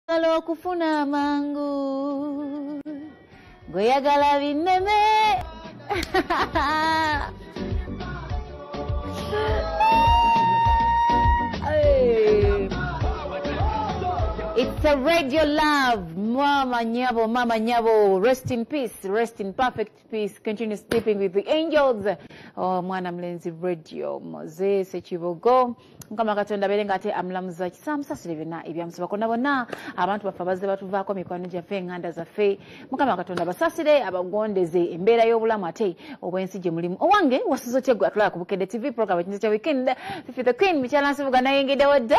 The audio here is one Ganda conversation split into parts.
Oyagala okufuna amangu gweyagala binneme It's a radio love. Mama Nyabo, Mama Nyabo. Rest in peace, rest in perfect. Peace continue sleeping with the angels oh, mwana mlenzi radio moze sekibogo mukama katonda abeere nga ate amulamuza kisamusasire byonna ebyamusaba kona bonna abantu baffe abazze batuvaako mikwano gyaffe enganda zaffe mukama katonda basasire abagondeze embeera y'obulamu ate obwensi gye mulimu owange wasiza otya gwe atulaba ku bukedde tv program ekinza kya weekend fifi the queen mikyala nsibuga nayengedewo da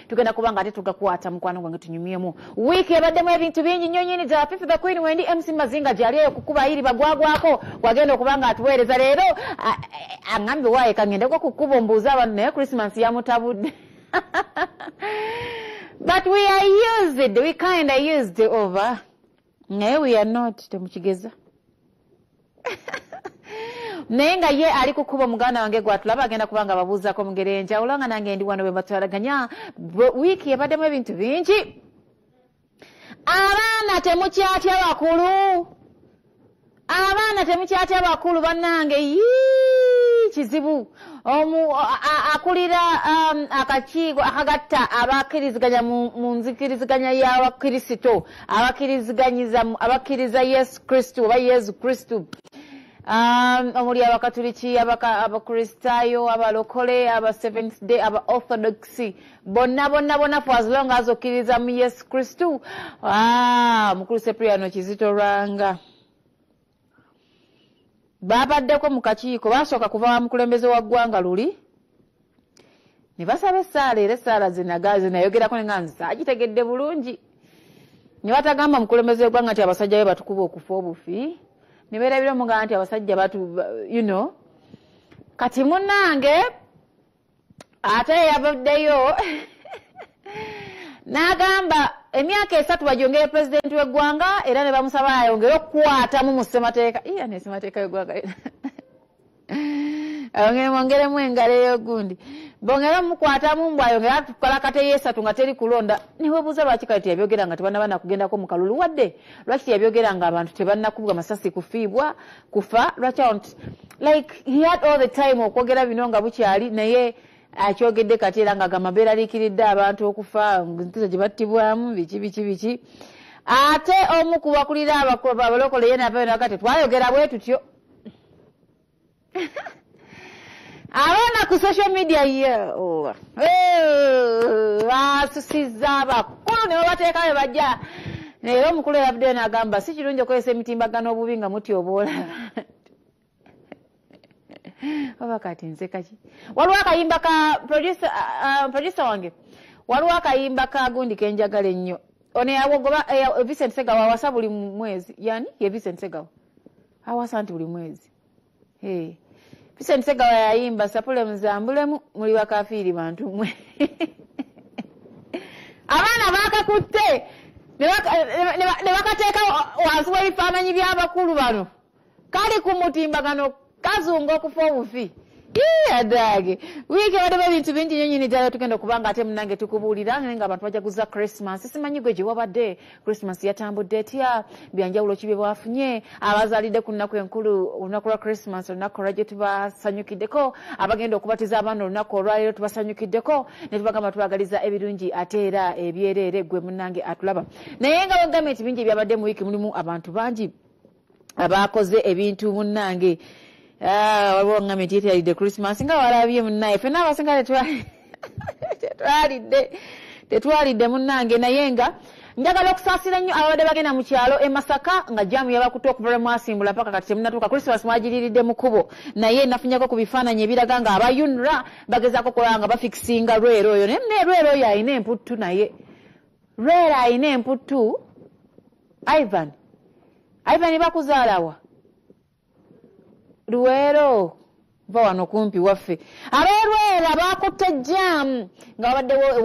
tugenda kuba nga ate tugakwata mukwano gwange tunyumyemu wiiki ebaddemu ebintu bingi nnyo nyini gya fifi the queen wendi mc mazinga gyali eyo kukuba yiri bagwagwako gwagenda okuba nga atuweereza leero aŋambye waaye kaŋendeko ku kkubo mbuuza abantu naye christmas yamutabudde but we are used we kind of used over naye we are not temukigeza naye nga ye ali kukuba omuganda wange gwatulaba agenda kuba nga babuuzako mugere enjawulo nga nange ndi wano bwebatwalaganya wiiki ebaddemu ebintu bingi abaana temukyatya bakulu abaana temukyatya bakulu banange yii kizibu omu akulira um, akakiiko akagatta abakkiriziganya mu nzikiriziganya y'abakristo abakkiriziganyiza abakkiriza yesu kristu oba yesu kristu um, omuli abakatuliki abakristaayo abalokole aba seventh day aba orthodoxy bonna bonna bonna for as long as okkiriza mu yesu kristu ah, mukulu sepriano kizito lwanga baabaddeko mu kakiiko baasooka kuva wa mukulembeze wa ggwanga luli ne basaba essaala era essaala zinayogerako ne nga nzagitegedde bulungi ne batagamba mukulembeze wegwanga nti abasajja be batukuba okufa obufi ne beerabira omugamba nti abasajja batu you know kati munange ate yavuddeyo n'agamba emyaka esatu bajongere pulezidenti w'eggwanga era ne bamusaba ayongere okukwatamu mu ssemateeka iya ne ssemateeka y'eggwanga ayongere mwongeremu engalo ey'ogundi bongere omukwatamu mbu ayongere atukola kate yeesatu nga teri kulonda niwebuuza lwaki kale teyabyogera nga tebanaba nakugendako mu kalulu wadde lwaki teyabyogera nga abantu tebannakubwa masasi kufiibwa kufa lwaki awo nti like he had all the time okwogera bino nga bukyali naye akyogedde kati era nga gamba beeraliikiridde abantu okufa nkizo gye battibwamu biki biki biki ate omu ku bakulira abalokole ye navayo naga tetwayogera bwe tutyo abaana ku social media ye oh, basusizza abakulu ne babateeka be bajja naye omukulu eyabuddeyo nagamba si kirungi okozesa emitimbagano obubi nga muti obwola oba kati nzekaki waliwo akayimba ka producer uh, uh, wange waliwo akayimba ka gundi kenjagala ennyo ono yawogoba eh, vincent segawa awasa buli mwezi yani ye vincent segawa awasa nti buli mwezi Hey. Vincent Segawa yayimba sapule muzambulemu muli bakafiiri bantu mwe abaana bakakutte ne bakateeka wansi w'ebifaananyi by'abakulu bano kali ku mutimbagano kazunga okufa obufi adaage wiiki ebadde ebintu bingi nyo nyini ddala tugenda okuba nga ate munange tukubuulira naye nga abantu bajaguza christmas simanyi gwe gye wabadde Christmas yatambudde etya byanjawulo kibe bwafunye abazalidde ku nnaku enkulu olunaku lwa Christmas olunaku olwajjo tubasanyukiddeko abagenda okubatiza abaana olunaku olwaleero tubasanyukiddeko ne tubagamba tubagaliza ebirungi ate era ebyereere gwe munange atulaba naye nga wegambye nti bingi ebyabadde mu wiiki mulimu abantu bangi abaakoze ebintu munnange ah, waliwo ŋŋambye nti yeteyaridde christmas nga walabye munnaye fena abasinga tetwalidde tetwalidde munnange naye nga njagala okusaasira nnyo ababadde bagenda mu kyalo e masaka nga jamu yabakutte okuva lwe mwasimbula mpaka kati temunatuuka christmas mwagiriridde mu kubo naye nafunyako ku bifaananyi ebiraga nga aba unra bagezaako okulaba nga bafikisinga lwero oyo naye mune lwero oyo alina emputtu naye lwero alina emputtu ivan ivan bakuzaalawa luweero va wano kumpi waffe ab'olwera bakutte jaamu nga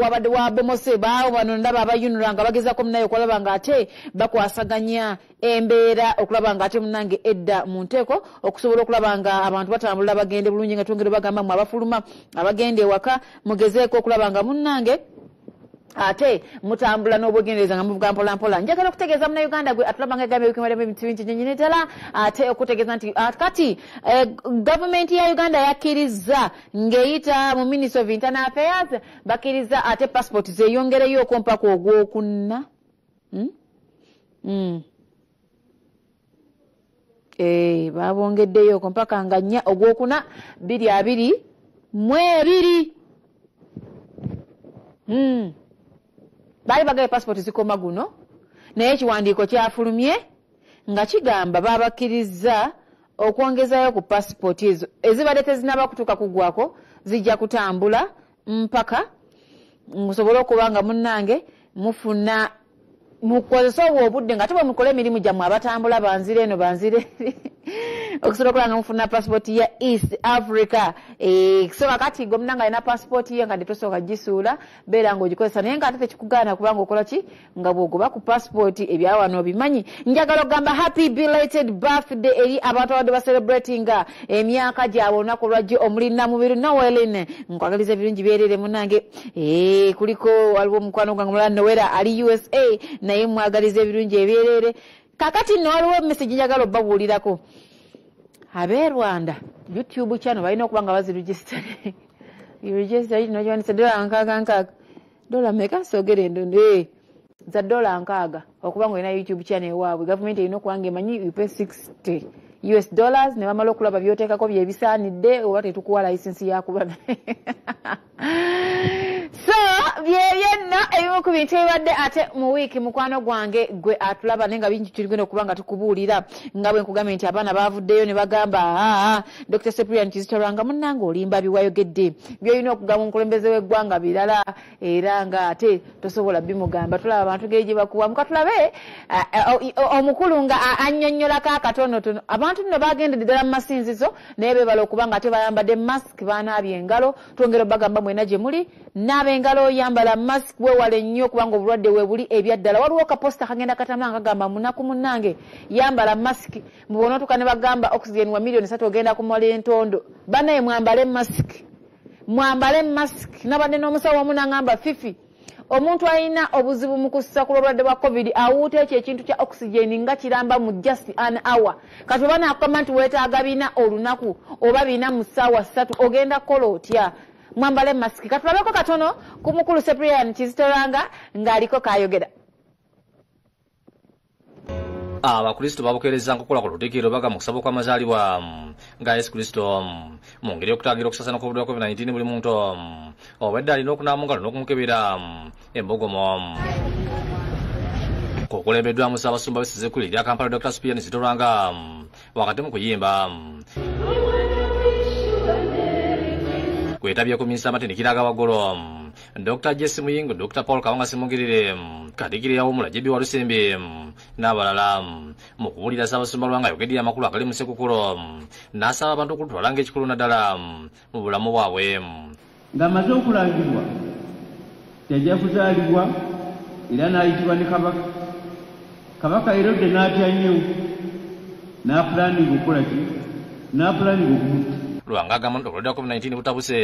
wabadde wabomose baawo bano ndaba abayunula nga bagezako munaye okulaba nga ate bakwasaganya embeera okulaba nga ate munange edda mu nteeko okusobola okulaba nga abantu batambulira bagende bulungi nga twongere bagamba mwe abafuluma abagenda ewaka mugezeeko okulaba nga munnange ate mutambula n'obwegendereza nga muvuga mpolampola njagala okutegeeza munauganda gwe atulaba nga egambye wikimalamu ebintu bingi nyenyini ddala ate okutegeeza nti ah, kati eh, gavumenti ya uganda yakkirizza ng'eyita mu ministry of internal affairs bakkirizza ate passport zeyongereyo okwompa ku ogwokunna hmm? Hmm. Eh, babongeddeyooko mpaka nga nnya ogwokuna biri abiri mu ebiri hmm. baali bagaye pasipooti zikoma guno naye ekiwandiiko kyafulumye nga kigamba babakkirizza okwongezayo ku pasipooti ezo ezibadde tezinaba kutuuka kugwako zijja kutambula mpaka musobole okuba nga munnange mufuna mukozese obwo obudde nga tebwe mukola emirimu gyammwe abatambula banzire eno banzire okusobola okulanga mufuna pasipooti ya east africa eh, so kakati gwe munanga alina pasipooti ye nga tetosooka gisuula beera nga ogikozesa naye nga ate tekikugaana kubanga okola ki nga bwogoba ku pasipooti ebyawano obimanyi njagala okugamba happy belated birthday eri abantu abadde bacelebratinga emyaka gyabwe olunaku lwajjo omuli namubiru noelin nkwagaliza ebirungi byerere munange eh, kuliko waliwo omukwano gwange mulala nowera ali usa naye mwagaliza ebirungi ebyerere kakati no waliwo emesegi njagala obabuulirako abe rwanda youtube chano balina okuba nga baziregistre registre nokiwanisa dola nkaaga nkaaga dola meka sogere endondo eh. za dola nkaaga okuba nga olina youtube channel ewaabwe gavumenti erina okuba nga emanyi upe 60 us dollars ne bamala okulaba byoteekako byebisaanidde oba tetukuwa layisinsi yakuba so byebyenno ebimu ku bintu ebibadde ate mu wiiki mukwano gwange gwe atulaba naye nga bingi tuligenda okuba nga tukubuulira nga bwe nkugambye nti abaana baavuddeyo ne bagamba aa dr seprian kizito lwanga munnanga olimba biwayogedde byolina okugamba omukulembeze w'eggwanga birala era nga ate tosobola bimugamba tulaba abantu geri gye bakuwa muka tulabe omukulu nga annyonnyolako akatonotono abantu nno bagendedde ddala mu masinzizo naye bebala okuba nga ate bayambadde mask banaabye engalo twongera obagamba mwena gye muli naaba engalo oyambala mask wewale nnyo kubanga obulwadde webuli ebyaddala waliwo kaposita kagenda katama nga kagamba munaku munange yambala mask mubona otuka ne bagamba oxygen wa millioni satu ogenda kumala entondo banaye mwambale mask mwambale mask nabadde n'omusawo omu nangamba fifi omuntu alina obuzibu mu kussa ku lwobulwadde bwa covid awuuta ekyo ekintu kya oxygen nga kiramba mu just an hour kati oba nakugamba nti weetaaga bina olunaku oba bina mu ssaawa ssatu ogenda kukola otya mwambale mask katulabeko katono ku mukulu seprian kizitoranga ng'aliko kayogera abakristo babukeereza nkukola ku lutikiro baga mu kusaba okw'amazaalibwa nga yesu kristo mu ngeri y'okutangira okusasaana kw'obulwa covid-19 buli muntu obwedde alina okunaamu ngalo n'okumukebera embogomo kukulembeddwamu ssaabasumba besize kuli erya kampala dr spian zitolwanga wakati mu kuyimba kwetabye ku minsi amatendekero aga waggulu dr jesi muyingo dr paul kawanga simugirire katikirira womula jebi walusimbi n'abalala mu kubulira ssaabasumba lwanga ayogedde amakulu agali mu sekukulo n'asaba abantu okulutwala ng'ekikulu naddala mu bulamu bwabwe ng'amaze okulangibwa yajja kuzaalibwa era n'ayitibwa ne kabaka kabaka erode n'atya nnyo n'apulaninga okukola ki n'apulaninga okumutta lwanga agamba nti obulwadde wa covid 19 butabuse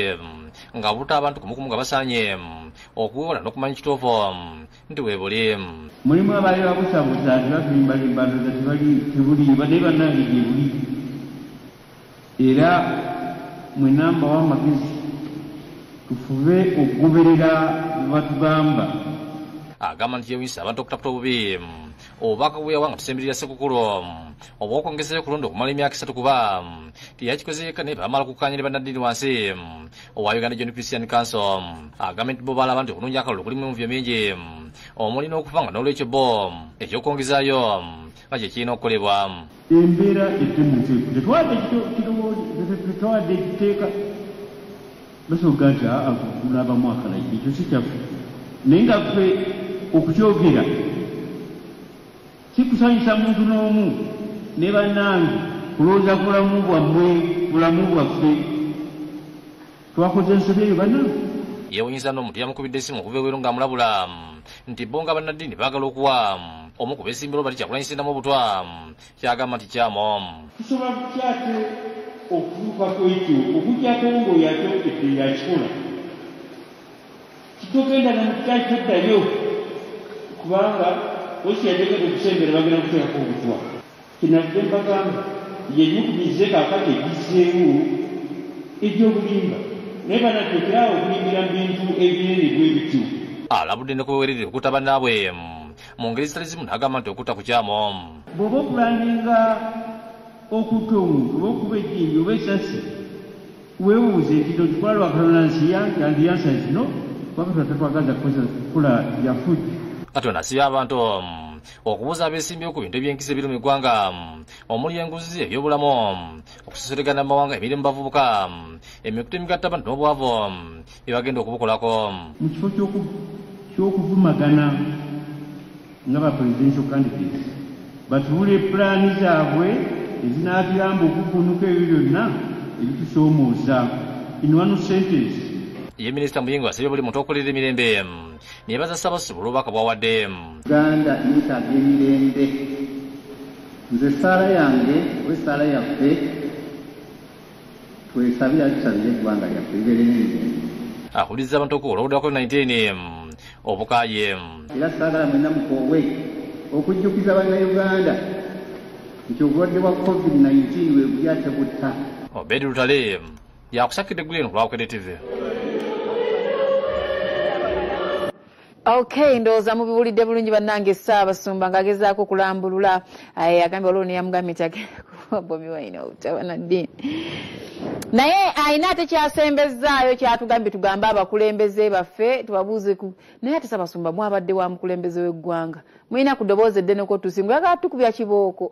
nga buta abantu kumukumu nga basaanye okuwewola n'okumanya kituufu nti webuli mulimu abaali babusabusa nti babirimbalimba ndoza tebuliiba naye bannange gyebuli era mwenamba w'amagezi tufube okugoberera bwebatugamba agamba nti yewisa abantu okutaputa obubi obubaka bweyawa nga tusemberera sekukulu obwokwongezayo okulonda okumala emyaka esatu kuba teyakikoze yekka naye bamala kukanya ne bannaddiini wansi owa uganda john christian council agambye nti bo balaba nti okulungi akalulu kulimu emuvyo mingi omuli n'okufa nga n'olwekyo bo ekyokwongezaayo nga kye kirina okukolebwa embeera etemutetwawadde ekiteeka basoboga nti aulabamu akalagi ekyo si kyaffe naye nga ffe okukyogera Sikusanyusa muntu n'omu ne bannange kulowooza ku bulamu bwammwe, bulamu bwaffe. Twakoze ensobi eyo bannange? Yeewunyizza n'omuntu eyamukubidde essimu okuva ebweru ng'amulabula nti bo nga bannaddiini baagala okuwa omu ku beesimbyewo bali Kyagulanyi Ssentamu obutwa ky'agamba nti kyamu. Tusobola tutya ate okutuuka ku ekyo okuggyako ng'oyo akyogedde yakikola? Titugenda na mukitayi toddayo kubanga osi yajagenda okusembera bagenda kuteekako obutwa. Kyenavudde mbagamba yenyukumize kaakati egizzeewo egy'obulimba naye banange okeraawo okulimbira mu bintu ebinene bwe bityo. Alabudde ne ku beweerera okutta bannaabwe mu ngeri ezitali zimu n'agamba nti okutta kukyamu. Bw'oba opulaaninga okutta omuntu oba okuba ejjinja oba essasi, Weebuuze nti kino kikola lwa Katonda nsi yange and the answer is no kuba Katonda tatwagaza kukozesa kukula bya fujjo. Katonda si by'abantu okubuza abeesimbyewo ku bintu ebyenkisa ebiri mu eggwanga omuli enguzi ebyobulamu okusoseregana mu mawanga emirimu bavubuka emikutu emigattabantu n'obwavu byebagenda okubukolako mu kifo ky'okuvumagana nga ba presidential candidates batuule pulaani zaabwe ezinaatuyamba okuvvuunuka ebyo byonna ebitusoomooza in one sentence ye minisita muyingo asabye buli muntu okulira emirembe nebaza ssabasumba olwobubaka bwawadde uganda yeetaaga emirembe nze essaala yange oba essaala yaffe Twesabire atusabire eggwanga lyaffe libeere n'emirembe. Akuliza abantu okuwola obudde bwa COVID-19 obukaaye. Era saagala mwenna mukoowwe okujjukiza Bannayuganda nti obulwadde bwa COVID-19 bwe buli ate butta. Obedi Lutale yakusakidde eggulu eno ku Lwabukedde TV. ok ndowooza mubiwulidde bulungi bannange ssaabasumba ng'agezaako okulambulula eh, agambye waliwo neyamugambye nti agenda kuwa bobi wine obutabana ddiini naye alina ate kyasembezzaayo kyatugambye tugambe abakulembeze baffe tubabuuzeku naye ate ssaabasumba mwabadde wa mukulembeze w'eggwanga mulina ku ddoboozi eddeneko tusi muyagala tukubya kibooko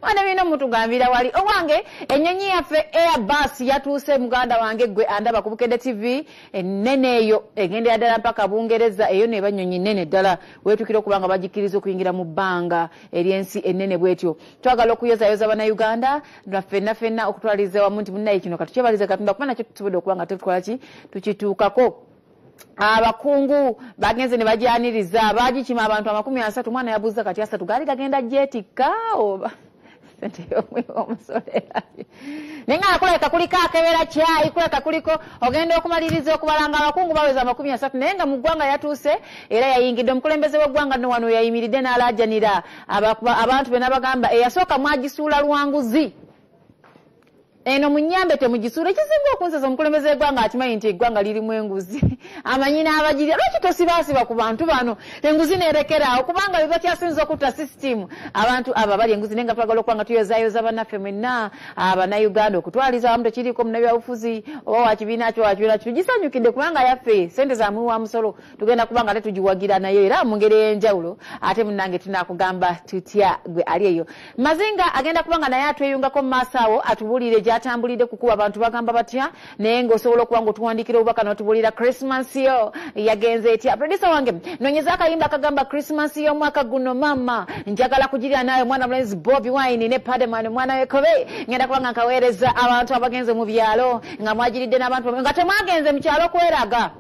mwana bino mutugambira wali owange enyonyi yaffe airbus yatuuse muganda wange gwe andaba ku bukedde tv enene eyo egendera ddala mpaka bungereza eyo neba nyonyi nene ddala wetukira okuba nga bagikkiriza okuyingira mu bbanga eryensi enene bwetyo twagala okuyozayoza banauganda nafenna fenna okutwaliza wamu nti munaye kino katukyebaliza katonda kuba nakyo tusobodde okuba nga tutwalaki tukituukako abakungu bagenze ne bagyaniriza bagikima abantu amakumi asatu omwana yabuuza kati asatu gaali gagenda gyetikka oba naye nga kulabika kuliko akebera kyayi kulabika kuliko ogenda okumaliriza okubalanga abakungu baweza amakumi asatu naye nga mu ggwanga yatuuse era yayingidde omukulembeze w'eggwanga no wano yayimiridde n'alaajanira abantu be n'abagamba eyasooka mwagisuula lwanguzi eno munyambe temugisuula ekisinga okunzesa omukulembeze wegwanga akimanyi nti egwanga lirimu enguzi amanyi n'abagirya lwaki tosibaasiba ku bantu bano enguzi nerekeraawo kubanga bebakyasinza okutta sisitimu abantu abo abali enguzi naye nga twagala okuba nga tuyozayoza banaffe mwenna abanauganda okutwaliza wamu tekiriiko munabyabufuzi oba wakibiina kyo wakibiina kyo tugisanyukidde kubanga yaffe sente zamwi wa musolo tugenda kuba nga tetugiwagira nayo era mu ngeri ey'enjawulo ate munange tunakugamba tutya gwe ali eyo mazinga agenda kuba nga naye atweyungako mu maaso awo atubuulire gyatambulidde kukuba abantu bagamba batya naye ngaosobola okuba nga otuwandikira obubaka notubuulira christmas yo yagenze etya produsa wange nonyeza akayimba akagamba christmas yo omwaka guno mama njagala kugirira naawe omwana mulenzi bobi wine ne pademan omwana wekobe ngenda kuba nga nkaweereza abantu abagenze mu byalo nga mwagiridde n'abantu nga temwagenze mu kyalo kweraga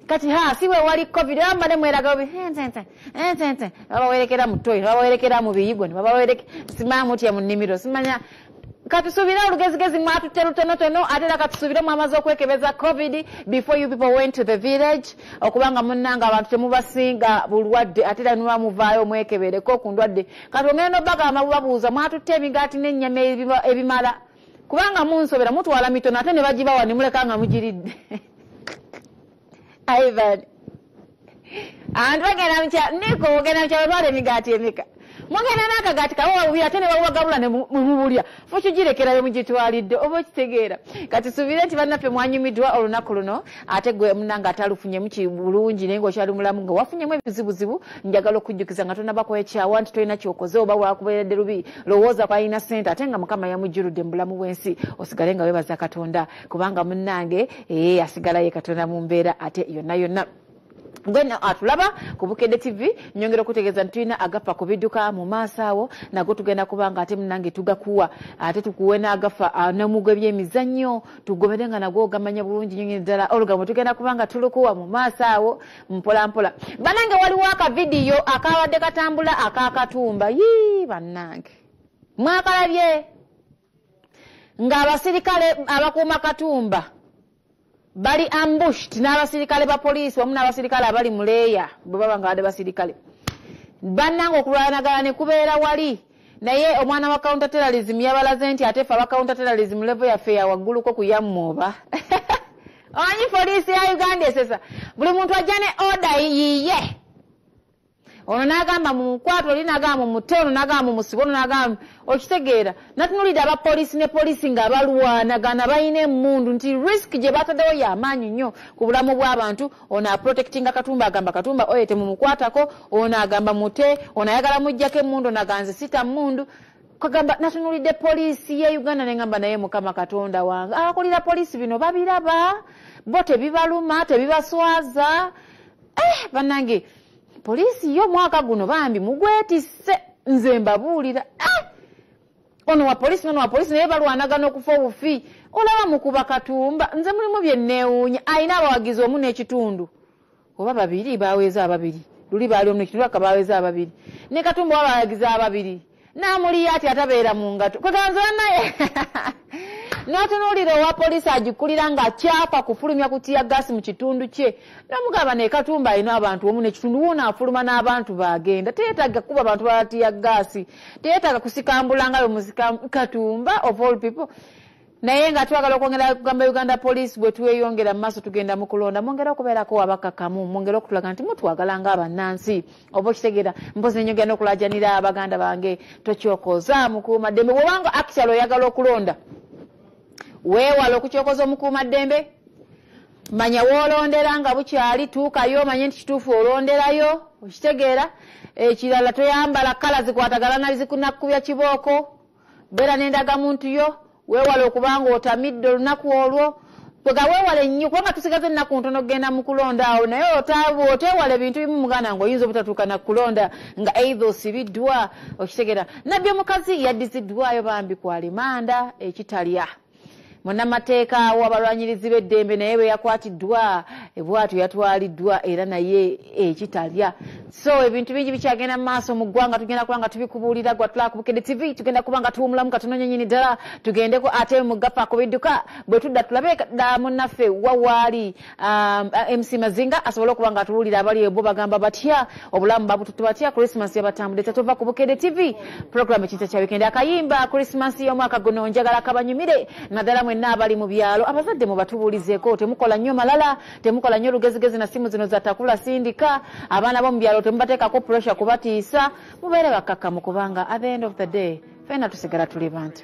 kati ha si wewali covid era mbane mweraga obi entente entente babawerekera mu toyi babawerekera mu biyigo ne babawereke simaa mutya mu nnimiro simanya katusubire olugezigezi mwatutte lutonotono ate era katusubire mwamaze okwekebeza covid before you people went to the village okuba nga munnanga abantu temubasinga bulwadde ate era niba muvaayo mwekebereko ku ndwadde kati ongenda nobagamba bubabuuza mwatutte emigaati n'ennyama ebimala kubanga munsobera mutwala mitono ate nebagibawa nemuleka nga mugiridde ivan antu bagenda mukya niko ogenda mukya batwala emigaati emeka mugenda nakagaati kabawabubi ate nebawagabula nemubulya fukigirekerayo mugitwalidde oba okitegeera kati subire nti bannaffe mwanyumidwa olunaku luno ate gwe munange atalufunyemu kibulungi naye ngaokyali mulamu nga wafunyemu ebizibuzibu njagala okujjukiza nga tonabako ekyawa nti tolina kyokoze oba wakubeeredde lubi lowooza kwalina sente ate nga mukama yamujjuludde mu bulamu bwensi osigale nga webaza katonda kubanga munange ee eh, asigalaye katonda mu mbeera ate yonna yonna gwe atulaba ah, ku bukedde tv nyongera okutegeeza nti tulina agafa ku bidduka mu maaso awo nago tugenda kuba nga ate munange tugakuwa ate tukuwe n'agafa ah, nomugwa ebyemizannyo tugobere nga nagwo ogamanya bulungi nyonyi ddala olugambo tugenda kuba nga tulukuwa mu maaso awo mpolampola banange waliwo akavidiyo akabadde katambula akakatumba yii bannange mwakalabye ng'abasirikale abakuuma katumba bali ambushed n'abasirikale ba poliisi wamu n'abasirikale abali mu leeya bwe baba nga badde basirikale bannanga okulwanagala ne kubeera wali naye omwana wa counter terrorism yabalaze nti ate fe aba counter terrorism levo yaffe yawagguluko kuyammuoba omanyi poliisi ya uganda esesa buli muntu ajja ne order yiye ono nagamba mumukwata oli nagamba mumute ono nagamba mumusiba ono nagamba okitegeera natunulidde abapoliisi ne poliisi nga balwanagana balina emundu nti risk gye bataddewo yamaanyi nnyo ku bulamu bw'abantu ono aprotectinga katumba agamba katumba oyo temumukwatako ono agamba mute ono ayagala mujjako emundu ono aganze sita mundu kagamba natunulidde poliisi ye uganda nengamba naye mukama katonda wange abakulira poliisi bino babiraba bo tebibaluma tebibaswaza eh, banange poliisi yo omwaka guno bambi mugwetisse nze mbabuulira eh! ono wa poliisi nono wa poliisi naye balwanagana okufa obufi olaba mukuba katumba nze mulimu byenneewuunya alina abawagizi omu n'ekitundu oba babiri baweza ababiri luli baali omu nekitundu aka baweza ababiri ne katumba oba bawagizi ababiri namuliya ati atabeera mu ngato kwekanze banaye natunuulira owa poliisi agikulira nga kyapa kufulumya kutiya gasi mu kitundu kye namugamba naye katumba alina abantu omu nekitundu wona afuluma n'abantu bagenda teyetaga kuba abantu balatiya gasi teyetaga kusikambulanga bemuzika katumba of all people naye nga twagala okwongera kugamba uganda police bwetweyongera mumaaso tugenda mukulonda mwongere okubeerako abakakamu mwongere okutulaga nti mutwagala nga abannansi oba okitegera mpozi nenyongera nokulajanira abaganda bange tokyokoza mukuuma ddembe bwobanga actual oyagala okulonda weewala okukyokoza omukuuma ddembe manya wolondera nga bukyali tuukayo omanye nti kituufu olonderayo okitegeera ekirala toyambala kala zikwatagala nabizikunakkubya kibooko beera n'endagamuntu yo weewale okubanga otamidde olunaku olwo kwega weewale nnyo kubanga tusigaza ennaku ntono okugenda mu kulonda awo naye oteewala ebintu bimu muganda nga oyinza obutatuuka na kulonda nga eitha osibiddwa okitegera nabbi omukazi yaddiziddwayo bambi ku alimanda ekitalya munnamateeka w'abalwanyirizi b'eddembe naye bwe yakwatiddwa bwatyo yatwaliddwa era naye ekitalya so ebintu bingi bikyagenda mu maaso mu ggwanga tugenda kuba nga tubikubuulira gwa tulakubukedde tv tugenda kuba nga tuwumulamu ka tunonye nyini ddala tugendeko ate mu gapa ku bidduka bwe tudda tulabe dda munnaffe wawaali Um, uh, mc mazinga asobole okuba nga atuwulira abali ebo bagamba batya obulamu babututu batya christmas yabatambudde tatova ku bukede tv program ekinta kya wikende akayimba christmas y'omwaka guno njagala kabanyumire naddala mwenna abali mu byalo abazadde mubatubuulizeko temukola nnyo malala temukola nnyo olugezigezi na simu zino zatakula sindika abaana bo mu byalo temubateekako pressure kubatiisa mubeere bakkakkamu kubanga at the end of the day fena tusigala tuli bantu